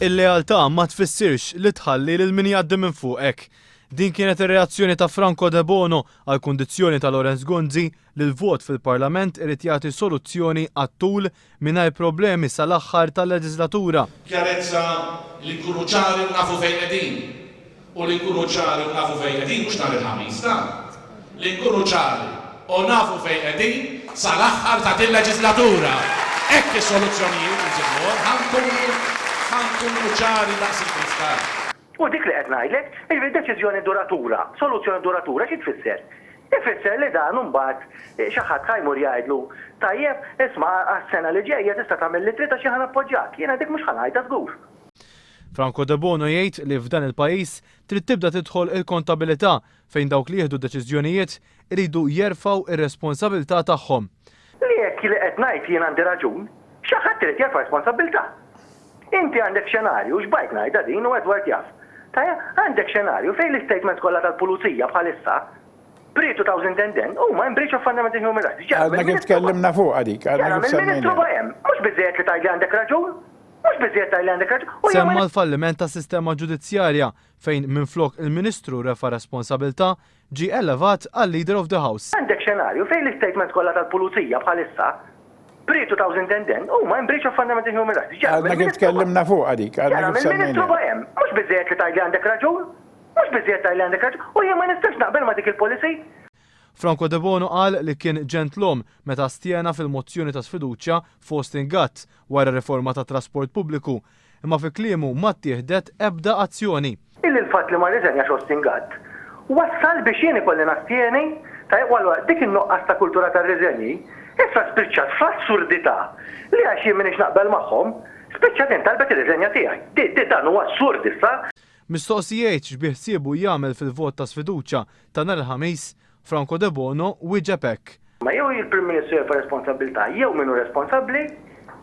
Il-lealtà ma tfissirx li tħalli lil min jgħaddi minn fuqek. Din kienet ir-reazzjoni ta' Franco Debono għall-kundizzjoni ta' Lawrence Gonzi li l-vot fil-Parlament irid jagħti soluzzjoni għat-tul mingħajr problemi sal-aħħar tal-leġislatura. B'ċjarezza li nkunu ċari u nafu fejn qegħdin. u li nkunu ċari u nafu fejn qegħdin, mhux nhar il-Ħamis, la, li nkunu ċari u nafu fejn qegħdin sal-aħħar ta' din leġislatura. Hekk is-soluzzjonijiet insibuhom, ħa nkunu, ħa nkunu ċari daqs il-kristall. U dik li qed ngħidlek, jiġifieri deċiżjoni duratura, soluzzjoni duratura xi tfisser? Ifisser li dan imbagħad xi ħadd ħa jmur jgħidlu, tajjeb, isma' għas-sena li ġejja tista' tagħmel li trid għax jien ħa nappoġġjak. Jiena dik mhux ħa ngħidha żgur. Franco Debono jgħid li f'dan il-pajjiż trid tibda tidħol il-kontabilità fejn dawk li jieħdu d-deċiżjonijiet iridu jerfgħu r-responsabilità tagħhom. Li hekk li qed ngħid jien għandi raġun, xi ħadd irid jerfa' responsabilità. Inti għandek xenarju, xbajt ngħidha din u Edward jaf, ta' għandek xenarju fejn l-istatements kollha tal-pulizija bħalissa, pre 2010, huma in breach of fundamental human rights. Għadna kif tkellimna fuqha dik, għadna kif semmejnha. X'jagħmel Ministru Bajhemn? Mhux biżżejjed li tgħidli għandek raġun? Mhux biżżejjed tgħidli għandek raġun, u jew ma. Semma l-falliment tas-sistema ġudizzjarja fejn minflok il-Ministru refa' responsabilità, ġie elevat għal Leader of the House. Għandek xenarju fejn l-istatements kollha tal-Pulizija bħalissa, prietu ta' Uzintendan, huma in breach of fundamental human rights. Ġara mill-Ministru. Għadna kif tkellimna fuqha dik, għadna kif semmejnija. Ġara mill-Ministru Bojem. Mhux biżżejjed li tgħidli għandek raġun? Mhux biżżejjed tgħidli għandek raġun, u jien ma nistax naqbel ma' dik il-policy? Franco Debono qal li kien ġentlom meta stjena fil-mozzjoni ta' sfiduċja Faustin Gatt wara r-riforma tat-trasport pubbliku, imma fi kliemu ma ttieħdet ebda azzjoni. Illi l-fatt li ma rriżenjax Austin Gatt wassal biex jien ikolli nastjeni, tajjeb u allura dik in-nuqqas ta' kultura tar-riżenji issa spiċċat fl-assurdità li għax jien m'iniex naqbel magħhom, spiċċat jien talbet ir-riżenja tiegħi. Di, di, dan hu assurd issa. Mistoqsijeit x'biħsiebu jagħmel fil-vot ta' sfiduċja Ta' nhar il-Ħamis, Franco Debono wieġeb hekk. Ma jew il-Prim Ministru jerfa' responsabbiltà jew min hu responsabbli,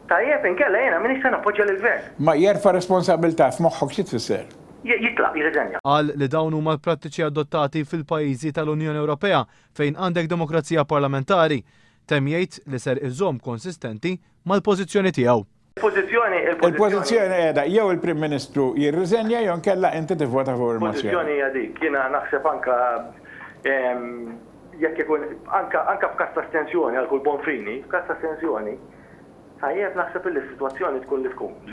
tajjeb, inkella jiena m'iniex se nappoġġja lill-Gvern. Ma jerfa' responsabbiltà f'moħħok xi tfisser? Jitlaq, jirriżenja. Qal li dawn huma l-prattiċi adottati fil-pajjiżi tal-Unjoni Ewropea fejn għandek demokrazija parlamentari. Temm jgħid li ser iżomm konsistenti mal-pożizzjoni tiegħu. Il-pożizzjoni, il-pożizzjoni. Il-pożizzjoni qiegħda jew il-Prim Ministru jirriżenja jew inkella inti tivvota favur il-mozzjoni. Il-pożizzjoni hija dik. Jiena naħseb anke jekk ikun anke anke f'każ ta' astensjoni għal kull bonfini, f'każ ta' astensjoni, tajjeb naħseb illi s-sitwazzjoni tkun li tkun.